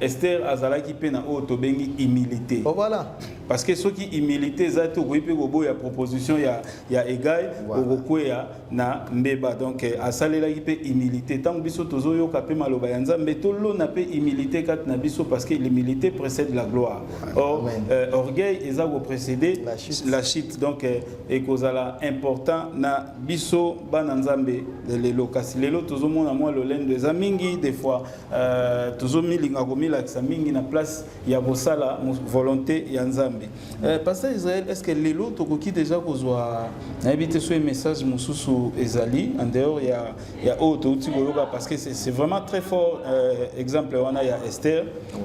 Esther azalaki pe na oyo tobengi humilité. Oh voilà. Parce que soki humilité eza te okoki pe koboya proposition ya ya Egai voilà. okokweya na mbeba. Donc eh, asalelaki pe humilité. Tango biso tozoyoka pe maloba ya Nzambe tolona pe humilité kati na biso parce que l'humilité précède la gloire. Or euh, orgueil eza ko précéder la chute. La chute. Donc eh, ekozala important na biso bana Nzambe lelo kasi lelo tozomona mwa lolendo eza mingi des fois Euh, tozomilinga komilakisa mingi na place ya kosala volonté ya nzambe euh, pasteur israel est ce que lelo tokoki deja kozwa nayebi te soki message mosusu ezali en dehors ya, ya oyo touti koyoka parce que c'est vraiment très fort euh, exemple wana ya esther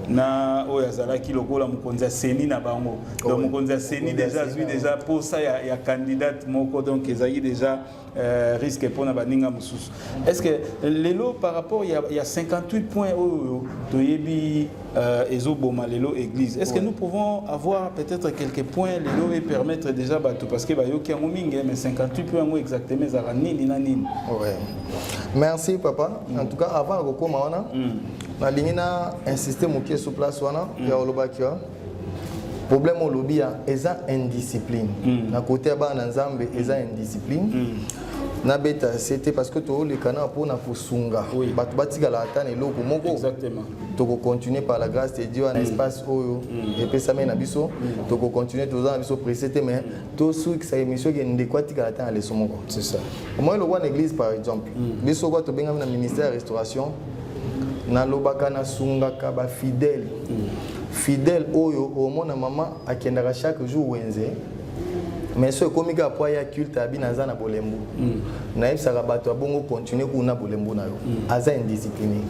na oyo azalaki lokola mokonzi ya seni na bango donc mokonzi ya seni deja azwi deja posa ya, ya candidate moko donc ezalaki deja Euh, risque mpona baninga mosusu est ce que lelo par rapport ya, ya 58 points oyo toyebi euh, ezoboma lelo église est ce que nous pouvons avoir peut-être quelques points lelo et permettre déjà bato parce que bayoki yango mingi mais 58 points yango exactement ezalaka nini na nini ouais. merci papa mm. en tout cas avant ya kokoma wana mm. nalingi na insiste moke sous place wana mm. ya olobaki problème olobi ya eza indiscipline mm. na kote ya bana na nzambe eza mm. indiscipline mm. nabeta se te parce que toolekana mpo na kosunga oui. bato batikala ata na eloko moko tokocontinue par la grâce de dieu na mm. espace oyo mm. epesami na biso mm. tokocontinue toza na biso presse te mais mm. tosukisa émission ke ndeko atikala ata na leso moko omoi lokwa na église par exemple mm. biso kwa tobengami na ministère ya restauration nalobaka nasungaka bafidele fidèle oyo omona mama akendaka chaque jour wenze mais so ekomi kaka po aya culte abi naza na bolembu mm. nayebisaka bato ya bongo continue kuna bolembu na yo mm. aza indiscipliné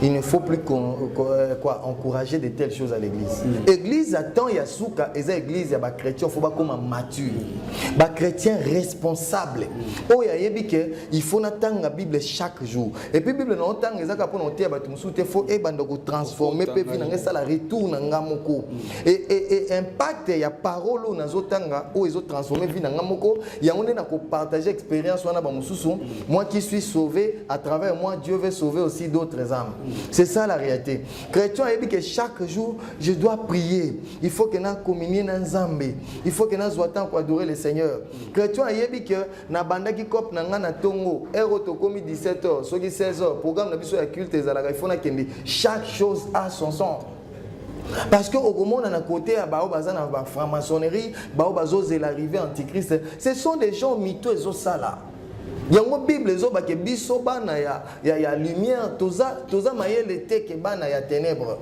il ne faut plus qu'on, euh, quoi, encourager de telles choses à l'église mm. église ya temps ya suka eza église ya bachrétien faut bakoma mature mm. bachrétien responsable mm. oyo ayebi ke il faut natanga bible chaque jour Et puis Bible na otanga eza kaka pona oteya bato mosusu te faut ebanda ko transformer pe vie na ngai sala retour na nga moko. Mm. Et, et, et impact ya parole oyo nazo tanga oyo ezo transformer vie na nga moko yango nde na ko partager expérience wana ba mosusu mm. moi qui suis sauvé à travers moi Dieu veut sauver aussi d'autres âmes. Mm. C'est ça la réalité. Chrétien a dit que chaque jour je dois prier. Il faut que na communier na Nzambe. Il faut que na zwa temps pour adorer le Seigneur. Chrétien a dit que nabandaki cope na ngai na ntongo heure oyo tokomi 17 heures soki 16 heures programme na biso ya culte ezalaka ifo nakende chaque chose a son son parce que okomona na kote ya baoyo baza na bafranc-maçonnerie baoyo bazozela arrive antichrist ce sont des gens mito ezosala yango bible ezoba ke biso bana ya, ya, ya lumière toza, toza mayele te ke bana ya ténèbre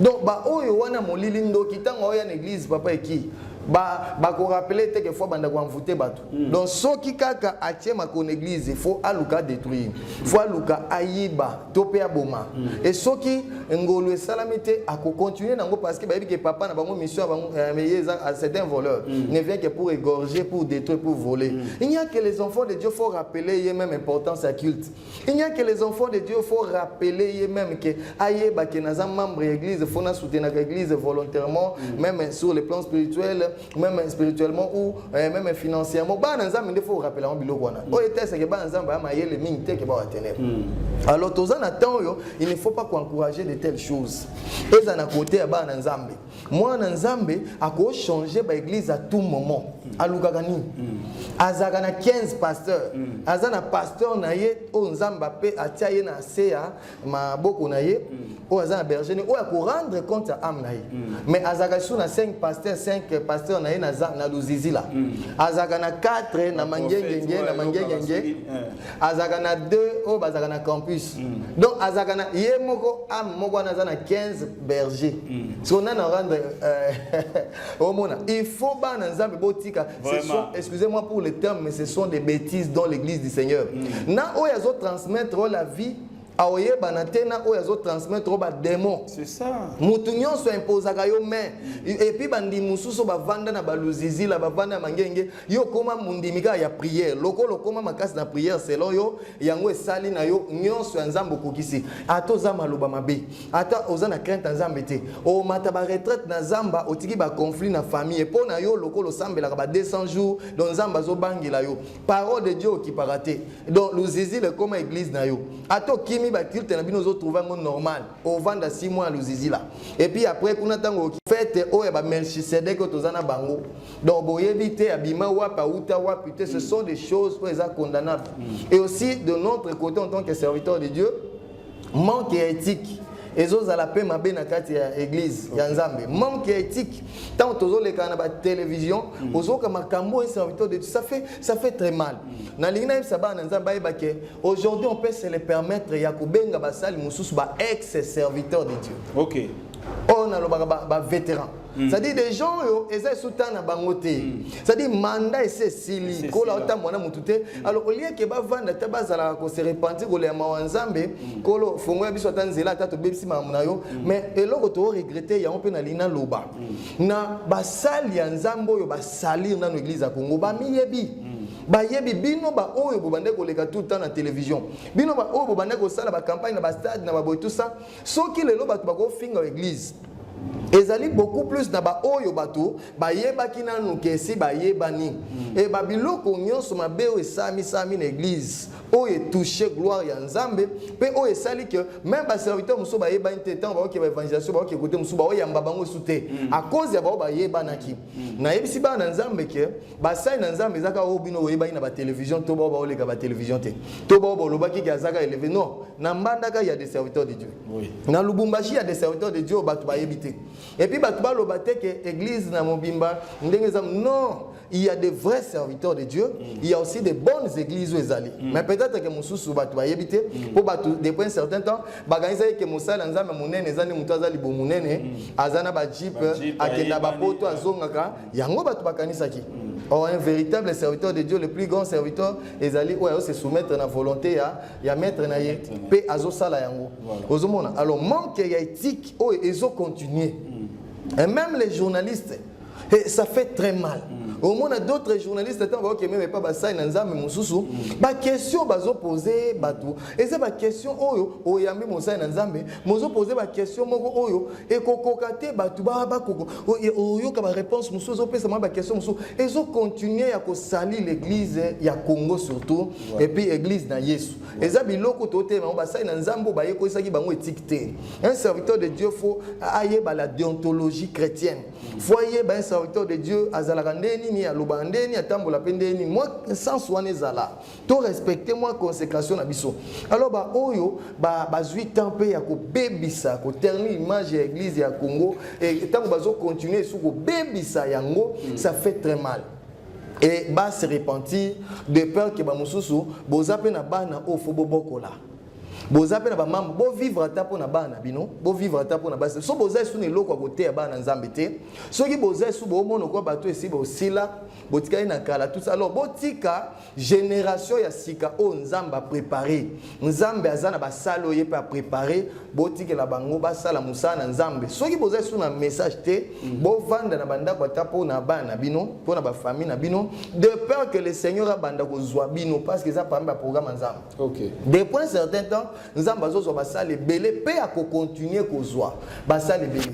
donc baoyo wana molili ndoki ntango aoya na église papa eki ba ba ko rappeler te que fois banda ko envoûter bato mm. donc soki kaka atie makon église il faut aluka détruire mm. faut aluka ayiba to pe aboma mm. et soki ngolu esalami te ako continuer nango parce que bayebi que papa na bango mission bango euh, mais eza ah, c'est un voleur mm. ne vient que pour égorger pour détruire pour voler mm. il n'y a que les enfants de Dieu faut rappeler ye même importance à culte Il n'y a que les enfants de Dieu, faut rappeler ye même que ayeba que naza membre ya église, faut na soutenir l'église volontairement, mm. même sur le plan spirituel, même spirituellement ou euh, même financièrement. Ba na nzambe faut rappeler en biloko wana. Mm. Oyo tese que ba nzambe ama yele mingi te que ba watenere. Mm. Alors toza na temps yo, il ne faut pas encourager de telles choses. Eza na côté ya ba na nzambe. mwana nzambe ako changer ba église à tout moment alukaka nini mm. azalaka na 15 pasteur mm. aza na pasteur na ye oyo nzambe ape atia ye na se ya maboko na ye mm. oyo aza na berger ne oyo akorendre compte ya ame na ye mais azalaka lisusu na 5 pasteur 5 pasteur na ye na luzizila azalaka na 4 na mangengenge na mangengenge azalaka na deux oyo bazalaka na campus mm. donc azalaka na ye moko ame moko wana aza na 15 berger mm. siko nani arendre euh, omona il faut bana nzambe botika excusez moi pour le terme mais ce sont des bêtises dans l'église du seigneur mm. na oyo azotransmettre la vie aoyebana te na oyo azo transmettre ba demon mutu nyonso impozaka yo main epuis bandimi mosusu bavanda na baluzizila bavanda ya mangenge yo okoma mondimi kaka ya priere lokola okoma makasi na priere selon yo yango esali na yo nyonso ya nzambe okokisi ata oza maloba mabe ata oza na crainte ya nzambe te omata baretraite na zamba otiki baconflit na famille mpo na yo lokola osambelaka ba 200 jours don nzambe azobangela yo parole de dieu okipaka te donc luzizile ekoma église na yo ata okimi baculte na bino ozotrouve yango normal ovanda si mwa ya luzizila epuis après kuna ntango fete oyo ya bamelchisedek oyo toza na bango donc boyebi te abima wapi auta wapi te ce sont des choses oyo eza condamnable mm. et aussi de notre côté en tant que serviteur de dieu manque ya ethique ezozala mpe mabe na kati ya eglise okay. ya nzambe manque ya ethique ntango tozoleka na batelevision mm. ozoyoka makambo oyo serviteur de ça fait, ça fait très mal mm. nalingi nayebisa bana na nzambe bayeba ke aujourd'hui on peut se le permettre ya kobenga basali mosusu ba ex serviteur de dieu okay. oyo nalobaka bavétéran ba Mm. C'est-à-dire des gens oyo eza esu temps na bango te. Mm. C'est-à-dire mandat esi esili kola otambwa na mutu te. Mm. Alors au lieu que bavanda ata bazalaka ko se repentir kolela mawa Nzambe kolo fongo ya biso ata nzela ata tobebisi makambo na yo mais eloko to regretter yango mpe nalingi naloba na basali ya Nzambe oyo basalir nano eglise ya Congo bamiyebi bayebi bino baoyo bobandaki koleka tout le temps na télévision bino baoyo bobandaki kosala bacampagne na bastade na baboye tout ça soki lelo bato bakofinga eglise ezali beaucoup plus na baoyo bato bayebaki nanu kesi bayebani mm. e babiloko nyonso mabe oyo esamisami na eglise oyo etouche gloire ya nzambe mpe oyo esali ke meme baserviteur mosusu bayebani te ntango baoke baevangelisation baoke kote mosusu baoyamba bango esu te mm. a cause ya bao bayebanaki mm. nayebisi bana na nzambe ke basali na nzambe eza kaka oyo bino boyebaki na batelevision to bao baoleka batelevision te to bao bolobaki ke azaka eleve non na mbandaka ya des serviteurs de dieu oui. na lubumbashi ya des serviteurs de dieu bato bayebi te epuis bato baloba te ke église na mobimba ndenge eza non il y a des vrais serviteurs de Dieu, mm. il y a aussi des bonnes églises où ils allaient. Mm. Mais peut-être que Moussous ou Batou Ayebite, mm. pour Batou, depuis un certain temps, Baganisa et Moussa, Lanzam, Mounene, Zani Moutaza, Libo Mounene, mm. Azana Bajip, Akenda Bapoto, Azongaka, yango bato bakanisaki or un véritable serviteur de dieu le plus grand serviteur ezali oyo se soumettre na volonté ya, ya maître na ye mpe azosala yango ozomona alors manque ya éthique oyo ezocontinue mm. et même les journalistes et ça fait très mal mm. omona d'autres journalistes ntango baoke meme epa basali na nzambe mosusu mm. baquestion bazopose bato eza baquestion oyo oyambi mosali na nzambe mozopose baquestion moko oyo ekokoka te bato baoyoka baréponse mosusu ezopesa mwa baquestion mosusu ezokontinue ya kosali l'église ya congo surtout ouais. epuis église na yesu ouais. eza biloko totelema yango basali na nzambe oyo bayekolisaki bango etike te un serviteur de dieu fo ayeba la déontologie chrétienne fo ayeba un serviteur de dieu azalaka nde nini alobaka nde nini atambola mpe nde nini mwa sense wana ezala to respecte mwa consécration na biso alors baoyo bazwi ba temps mpe ya kobebisa koterni image ya église ya congo ntango bazocontinue esu kobebisa yango mm. ça fait très mal et ba se repentir de peur ke bamosusu boza mpe na bana oyo fo bobokola boza mpe na bamama bovivre ata mpo na bana na bino bovivre ata mpo na basi so boza esu na eloko ya koteya bana na nzambe te soki boza esu boomona kwa bato esi bosila botikali na kala tout ça alors botika generation ya sika oyo nzambe aprepare nzambe aza na basali oyo ye mpe aprepare botikela bango basala mosala na nzambe soki boza esu na message te mm. bovanda na bandako ata mpo na bana na bino mpo na bafamille na bino de peur que le seigneur abanda kozwa bino parce que eza parmi baprogramme ya nzambe Okay. Depuis un certain temps, Nzambe azozwa basali ebele mpe akokontinue kozwa basali ebele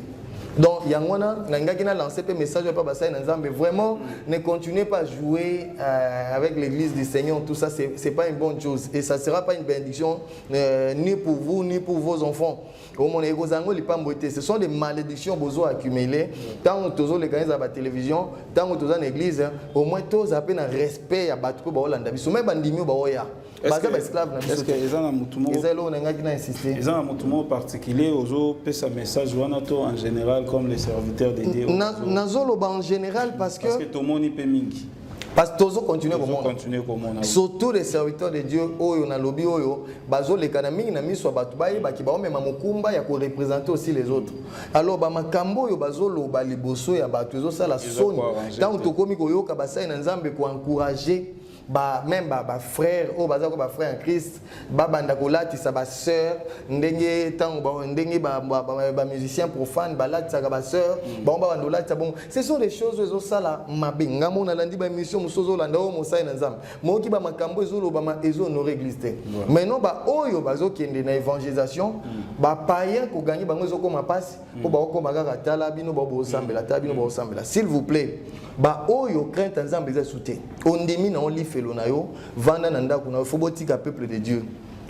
donc yango wana nalingaki na lancer mpe message epa basali na nzambe vraiment ne continuez pas à jouer euh, avec l'église du seigneur tout ça c'est pas une bonne chose et ça sera pas une bénédiction euh, ni pour vous ni pour vos enfants omona ekozala yango lipambwe te ce sont des malédictions bozo accumule ntango tozoleka ezala batélévision ntango toza na église au moins tozala mpe na respect ya bato mpe baolanda biso mai bandimi oyo baoya baza baesclave na biso eza na motu moko eza eloko nangaki na insiste eza na motu moko particulier ozopesa message wana to en général comme les serviteurs de dieu nazoloba en général parce que tomoni mpe mingi parce que tozo continue komona surtout les serviteurs de dieu oyo na lobi oyo bazolekana mingi na miso ya bato bayebaki baomema mokumba ya korepresente aussi les autres alors bamakambo oyo bazoloba liboso ya bato ezosala soni ntango tokomi koyoka basali na nzambe koencourage ba, même bafrère oyo baza ko bafrère ya christ babanda kolatisa basœur ndenge ntango ndenge bamusicien profane balatisaka basœur mm. bango babanda kolatisa bongo ce sont des choses oyo ezosala mabe ngai mona nalandi baémission mosusu ozolanda oyo mosali na nzambe moyoki bamakambo ezolobama ezohonore église te maintenant baoyo bazokende na évangélisation mm. bapayen kogangi bango ezokoma mpasi mpo baokoma kaka tala bino bao bosambela tala bino baosambela s'il vous plaît baoyo crainte ya nzambe eza esu te ondimi na yo lifelo na yo vanda na ndako na yo fo botika peuple de dieu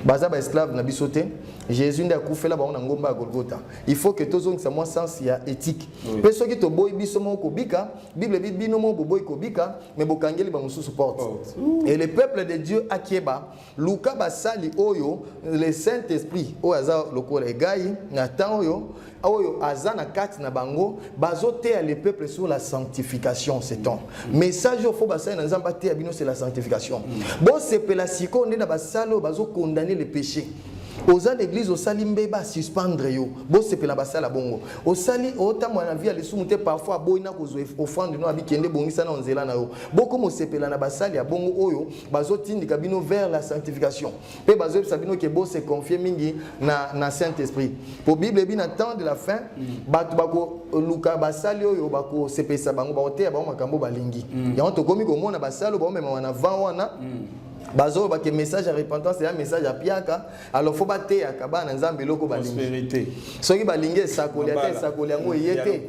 baza baesclave na biso te jésus nde akufela bango na ngomba ya golgota il faut que tozongisa mwa sense ya éthique mpe soki toboyi biso moko kobika bible ebi bino moko boboyi kobika me bokangeli bamosusu porte et le peuple de dieu akeba luka basali oyo le saint esprit oyo aza lokola egai na temps oyo oyo aza na kati na bango bazoteya le peuple sur la sanctification ce temps message oyo fo basali na nzambe ateya bino c'est la sanctification mm. bosepela sikoyo nde na basali oyo bazokondane le péché oza na eglize osali mbeba suspendre yo bosepela basala bongo osali otambola na vie ya lisumu te parfois aboyi na kozwa offrande no abikende ebongisa na nzela na yo bokoma osepela na basali ya bongo oyo bazotindika bino vers la sanctification mpe bazoyebisa bino ke bose confie mingi na, na saint esprit mpo bible ebi na temps de la fin mm. bato bakoluka basali oyo bakosepelisa bango bakoteya bango makambo balingi mm. yango tokomi komona basali oyo baomemama na vent wana mm. bazoloba ke message ya repentance eya message ya piaka alors faut bateyaka bana nzambe eloko balingi soki balingi esakoli ata esakoli yango eye te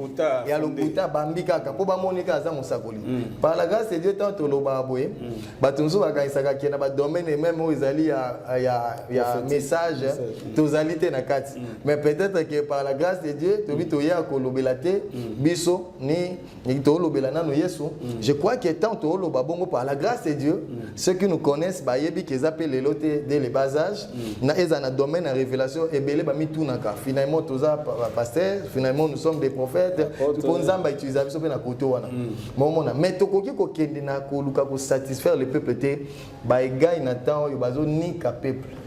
ya lokuta bambi kaka mpo bamoni kaka aza mosakoli mm. par la grâce de dieu tant tolobaka boye mm. bato mosusu bakanisaka ke na badomaine meme oyo ezali ya message mm. tozali te na kati mais peut-être que par la grâce de dieu tobi toya kolobela te biso ni Et tolobela nano Yesu, mm. je crois que tant toloba bongo par la grâce de Dieu, mm. ceux qui nous connaissent ba yebi qu'ils appellent les lotés dès le bas âge, mm. na eza na domaine na révélation et belé ba mitunaka. Finalement toza pasteur, finalement nous sommes des prophètes, pour nzamba utiliser biso pe na koto wana. Mon mona, mais tokoki ko kende na ko luka ko satisfaire le peuple te Baegai na temps oyo bazo nika peuple.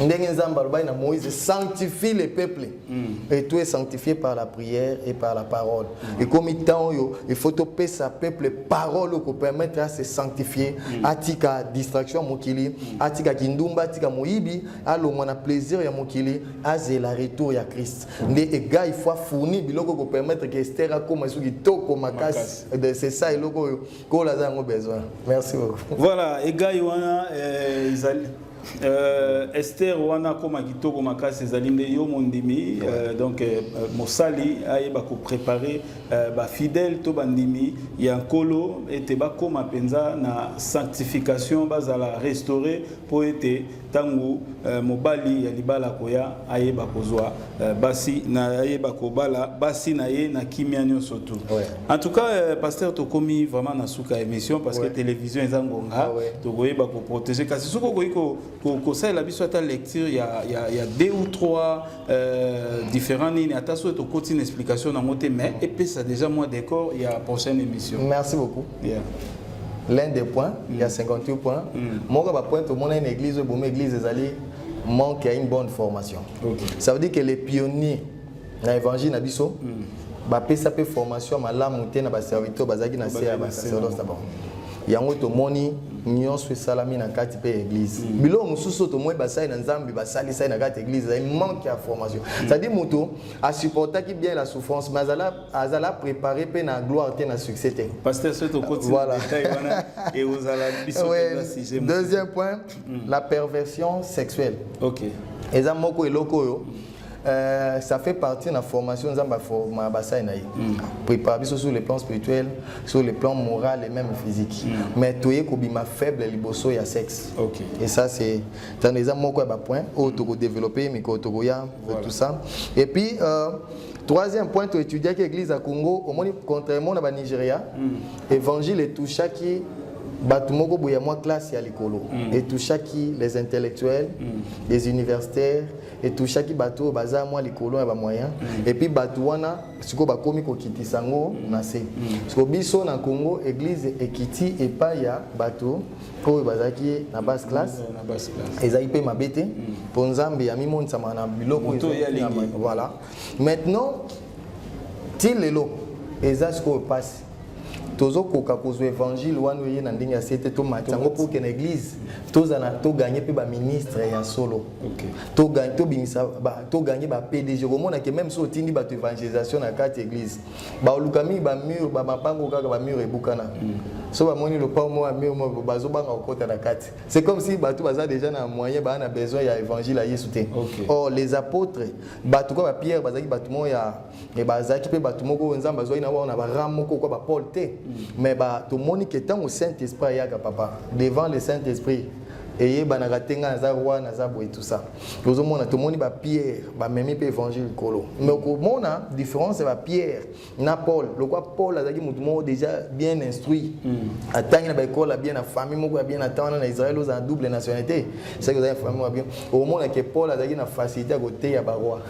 ndenge nzambe alobaki na moïse sanctifie le peuple mm. et tout est sanctifié par la prière et par la parole mm. ekomi ntan oyo il faut topesa peuple parole oyo kopermettre ase sanctifie mm. atika distraction ya mokili mm. atika kindumba atika moyibi alongwa na plaisir ya mokili azela retour ya christ mm. nde ega il faut afourni biloko kopermettre ke ester akoma esu kitoko makasi c'est ça eloko oyo kola aza yango besoin merci beaucoup voilà egai wana eh, ezali Euh, Esther wana koma kitoko makasi ezali nde yo mondimi euh, donc euh, mosali ayeba ko préparer euh, ba fidèles to bandimi ya nkolo ete bakoma mpenza na sanctification bazala restaurer mpo ete ntango eh, mobali ya libala koya ayeba kozwa eh, basi na ayeba kobala basi na ye na kimia nyonso tu ouais. en tout cas eh, pasteur tokomi vraiment na suka émission parce ouais. que télévision eza ngonga ah, ouais. tokoyeba koprotege kasi soki okoki kosalela biso ata lecture ya, ya, ya deux ou trois Euh, différent nini ata soki tokoti na explication nango te mais epesa déjà mwa décor ya prochaine émission merci beaucoup yeah. l'un des points mm. il y a 58 points mm. moko ba point tomona une église oyo bomi église ezali manque ya une bonne formation okay. ça veut dire que les pionniers na évangile na biso mm. bapesa mpe formation malamu te na baserviteur bazalaki na se ya basacerdoce na bango yango tomoni nyonso esalami na kati mpe ya eglize mm. biloko mosusu tomoni basali na nzambe basalisaki na kati ya eglize ezali manque ya formation mm. cetadi moto asupportaki bien la souffrance mais azala, azala prépare mpe na gloire te na succès te voilà. oui. deuxième point mm. la perversion sexuelle okay. eza moko eloko oyo mm. Euh, ça fait partie na formation nzambe aforma basali na ye mm. prépare biso sur le plan spirituel sur le plan moral et même physique mm. mais toye kobima faible liboso ya sexe okay. et ça c'est tano eza moko ya bapoint oyo mm. tokodéveloppe mikolo tokoya voilà. tout ça et puis euh, troisième point toétudiaki église ya congo omoni contrairement na banigeria mm. évangile etouchaki bato moko boye ya mwa classe ya likolo mm. etouchaki les intellectuels mm. les universitaires etouchaki bato oyo baza mwa likolo ya bamoyen mm. epuis bato wana sikoyo bakomi kokitisa yango na se mm. siko biso na congo eglize ekiti epai ya bato oyo bazalaki na basse classe mm, ezalaki mpe mabe te mpo nzambe yamimonisama na biloko voilà maintenant ti lelo eza sikoyo mpasi tozokoka kozwa evangile wana oye na ndenge ya se te tomati yango mpo okende eglise tozala toganye mpe baministre ya solo tobimisa toganye bapdg okomona ke meme so otindi bato évangélisation na kati eglise baoluka mingi bamur bamapango kaka bamur ebukana mm. so bamoni lopao moko ya mur moko bazobanga kokota na kati c'est comme si bato baza déjà na moyen baa na besoin ya évangile ya yesu te or les apôtres bato kaka bapierre bazalaki bato moko ya mais bazalaki mpe bato moko oyo nzambe azwaki na bango na barame moko kwa bapole te mais tomoni ke ntango saint esprit ayaka papa devant le saint esprit eyebanaka te ngai naza roi naza boye tout ça tozomona tomoni bapierre bamemi mpe évangile likolo mais okomona différence ya bapierre na paul lokwa paul azalaki moto moko déjà bien instruit hmm. atangi na baekole ya bien na famille moko ya bien na temps wana na israel ozala double nationalité soki ozali na famille moko ya bien okomona ke paul azalaki na facilité ya koteya baroi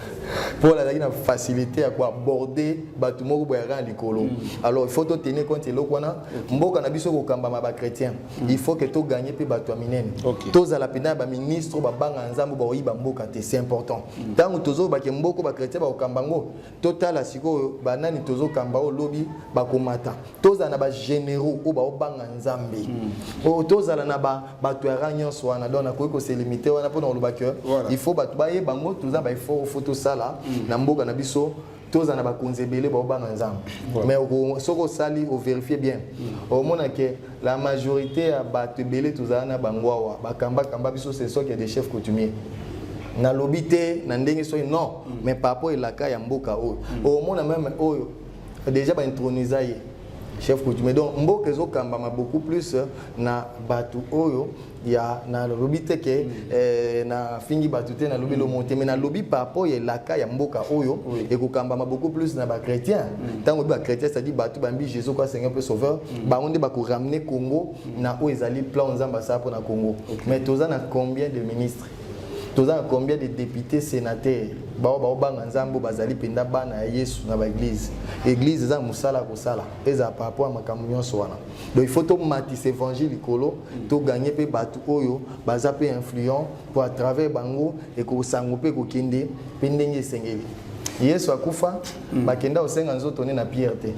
Paul azalaki na facilité ya koaborde bato moko boyaka na likolo mm. alors il faut totenir compte eloko wana mboka na biso kokambama bachrétien mm. il faut ke toganye mpe bato ya minene tozala mpenza ya baministre babanga nzambe bakoyiba mboka te c'est important mm. ntango tozobake mboko bachrétien bakokamba yango totala sikoyo banani tozokamba oyo lobi bakomata tozala na bagénéraux oyo baobanga nzambe hmm. oyo oh, tozala na bato ya rang nyonso wana donc nakoki koselimite wana mpo na koloba ke il faut bato bayeba yango toza baeffort fo tosala hmm. na mboka na biso tozala na bakonzi ebele baobanga nzambe mais soki osali overifie bien hmm. omona ke la majorité ya bato ebele tozala na bango awa bakambakamba biso se soki ya des chefs coutumier nalobi te na ndenge soki non mais par rapport elaka ya mboka oyo omona meme oyo Deja ba introniser ye chef coutumier donc mboka ezokambama beaucoup plus euh, na bato oyo ya nalobi te ke mm. eh, nafingi bato te nalobi mm. lomo te mais nalobi par rapport ya elaka ya mboka oyo ekokambama beaucoup plus na bachrétien mm. ntango oyebi bachrétien cetadi bato bambi jésus kwa seigneur mpe sauveur bango nde bakoramener congo na oyo ezali plan nzambe asala mpo na congo mais toza na combien de ministre toza na combien de députés sénateurs bao baobanga nzambe oyo bazali mpenza bana ya yesu na baeglize eglize eza na mosala ya kosala ezala par rapport ya makambo nyonso wana donc il faut tomatisa évangile likolo toganye mpe bato oyo baza mpe influent mpo à travers bango ekosango mpe kokende mpe ndenge esengeli yesu akufa mm. bakenda kosenga nzoto ne na pierre te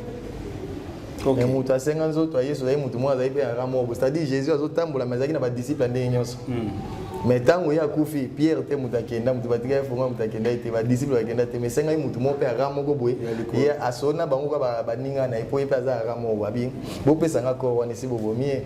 okay. mais moto asenga nzoto ya yesu azali moto moko azali mpe yaka moko c'est-à-dire jésus azotambola mais azalaki na badisiple ya ndenge nyonso mm. mais ntango ye akufi pierre te moto akenda moto batika ye fonga moto akenda ye te badisiple bakenda te mais esengaki moto moko mpe yaka moko boye ye asona bango kaka baninga na ye mpo ye mpe aza yaka moko abi bopesa nga kor wana esi bobomi ye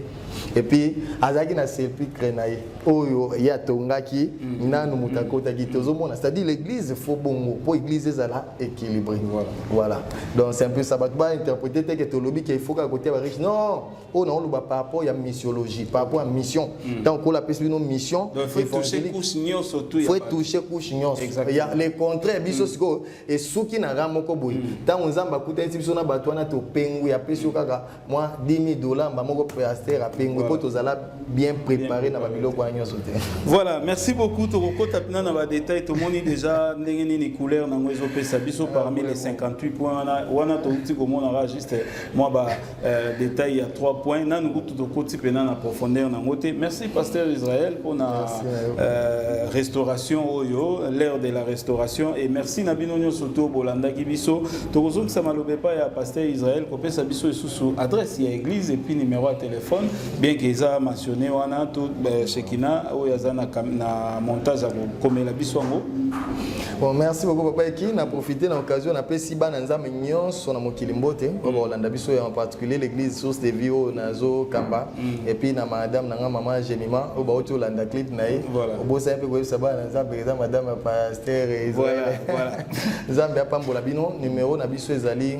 epuis azalaki na sepulcre na ye oyo ye atongaki mm. nanu moto akotaki te ozomona c'est-à-dire l'église fo bongo mpo église ezala équilibré voilà. voilà donc c'est un peu ça bato bainterprete te ke tolobi ke faut kaka kotia bariche non oyo na oloba par rapport ya missiologie par rapport ya mission ntango mm. kola apesi bino mission faut touche couche nyonso ya le contraire biso mm. sikoyo esuki na ra moko boye ntango nzambe akutanisi biso na bato wana topengwi apesi yo kaka mwa 10000 dollars mba moko pasteur apengwe mpo tozala bien préparé na babiloko wana nyonso te voilà merci beaucoup tokokota mpena na badetail tomoni déjà ndenge nini couleur na yango ezopesa biso parmi les 58 points wana wana touti komonaka juste mwa ba euh, détail ya 3 points nanu kutu tokoti mpena na profondeur na yango te merci pasteur israël mpona euh, restauration oyo l'heure de la restauration et merci na bino nyonso to bolandaki biso tokozongisa maloba epai ya pasteur israël kopesa biso lisusu adresse ya église et puis numéro ya téléphone bien que eza mentionné wana to euh, shekina oyo aza na, na montage ya kokomela biso yango bon merci beaucoup papa eki na profite na occasion napesi bana nzambe nyonso na mokili mbote oyo mm. bakolanda biso ya en particulier l'église source de vie oyo nazokamba mm. et puis na madame na nga mama gemima oyo bauti olanda clip na ye obosani mpe koyebisa bana na nzambe eza madame ya pasteur nzambe apambola bino numero na biso ezali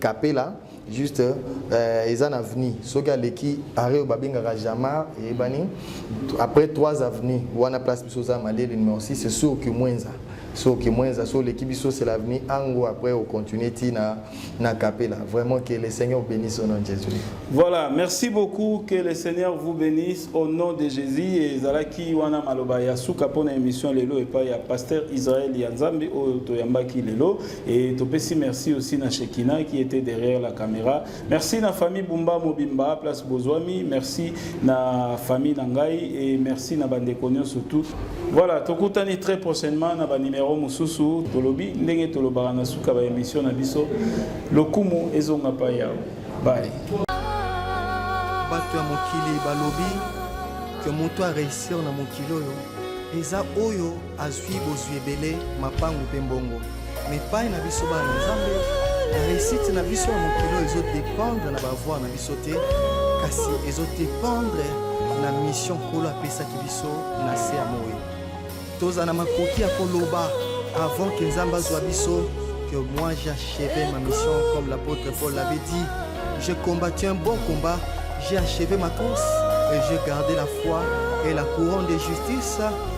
Capella juste euh, eza na avenue soki aleki arrêt oyo babengaka jamar eyebani après 3 avenue wana place biso oza maleli numéro 6 c'est sûr que mwenza so kimwenza so oleki biso c'est l'avenir ango après au continuer ti na na capella vraiment que le seigneur bénisse au nom de jésus voilà merci beaucoup que le seigneur vous bénisse au nom de jésus et ezalaki wana maloba ya suka pona émission lelo epai ya pasteur israël ya nzambe oyo toyambaki lelo Et Topesi, merci aussi na Shekina qui était derrière la caméra. Merci na famille Bumba Mobimba, place Bozoami. Merci na famille Nangai et merci na Bandekonio surtout. Voilà, Tokutani très prochainement na ba numéro Mususu, Tolobi, Ndenge Tolobara na suka ba émission na biso. Lokumu ezonga pa yao. Bye. Bato ya mokili balobi que moto a réussir na mokili oyo eza oyo azwi bozwi ebele, mapangu mpe mbongo. Mais epai na biso bana na Nzambe, la réussite na biso ya mokili oyo ezodependre na bavoir na biso te, kasi ezodependre na mission Nkolo apesaki biso na se ya moi. Tozala na makoki ya koloba avant que Nzambe azwa biso que moi j'achevais ma mission comme l'apôtre Paul l'avait dit. J'ai combattu un bon combat, j'ai achevé ma course et j'ai gardé la foi et la couronne de justice